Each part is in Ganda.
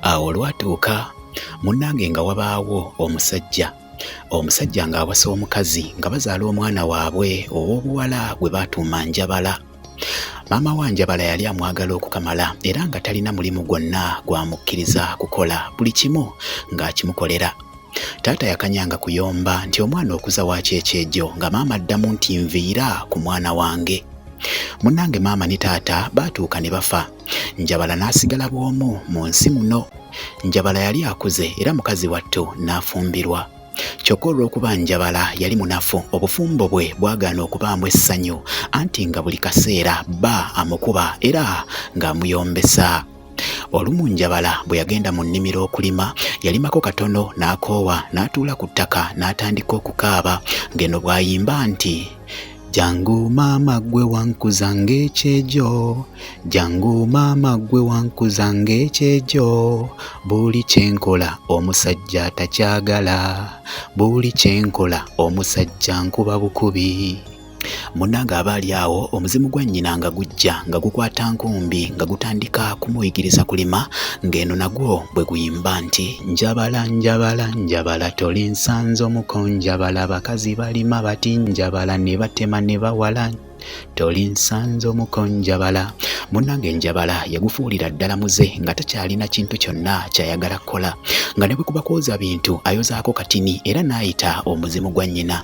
Awo olwatuuka munnange nga wabaawo omusajja omusajja ng'awasa omukazi nga bazaala omwana waabwe ow'obuwala gwe baatuuma Njabala. Maama wa Njabala yali amwagala okukamala era nga talina mulimu gwonna gwamukkiriza kukola buli kimu ng'akimukolera. Taata yakanyanga kuyomba nti omwana okuza waaki ekyejo nga maama addamu nti nviira ku mwana wange. Munnange maama ne taata baatuuka ne bafa. Njabala n'asigala bw'omu mu nsi muno. Njabala yali akuze era mukazi wattu n'afumbirwa. Kyokka olw'okuba Njabala yali munafu, obufumbo bwe bwagaana okubaamu essanyu anti nga buli kaseera bba amukuba era ng'amuyombesa. Olumu Njabala bwe yagenda mu nnimiro okulima, yalimako katono n'akoowa n'atuula ku ttaka n'atandika okukaaba ng'eno bw'ayimba nti Jangu maama gwe wankuza ng'ekyejo jangu maama gwe wankuza ng'ekyejo buli kye nkola omusajja atakyagala buli kye nkola omusajja nkuba bukubi munnange aba ali awo omuzimu gwa nnyina nga gujja nga gukwata nkumbi nga gutandika kumuyigiriza kulima ng'eno nagwo bwe guyimba nti Njabala njabala njabala toli nsanze omuko njabala bakazi balima bati njabala ne batema ne bawala toli nsanze omuko njabala munnange njabala yagufuulira ddala muze nga takyalina kintu kyonna kyayagala kukola nga ne bwe kuba kwoza bintu ayozaako katini era n'ayita omuzimu gwa nnyina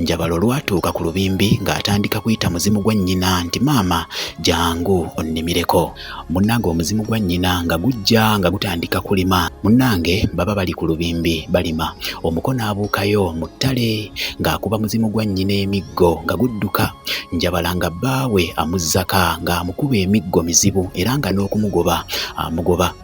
Njabala olwatuuka ku lubimbi ng'atandika kuyita muzimu gwa nnyina nti maama jangu onnimireko. Munnange omuzimu gwa nnyina nga gujja nga gutandika kulima. Munnange baba bali ku lubimbi balima. Omuko n'abuukayo mu ttale ng'akuba muzimu gwa nnyina emiggo nga gudduka. Njabala nga bbaawe amuzzaka ng'amukuba emiggo mizibu era nga n'okumugoba amugoba.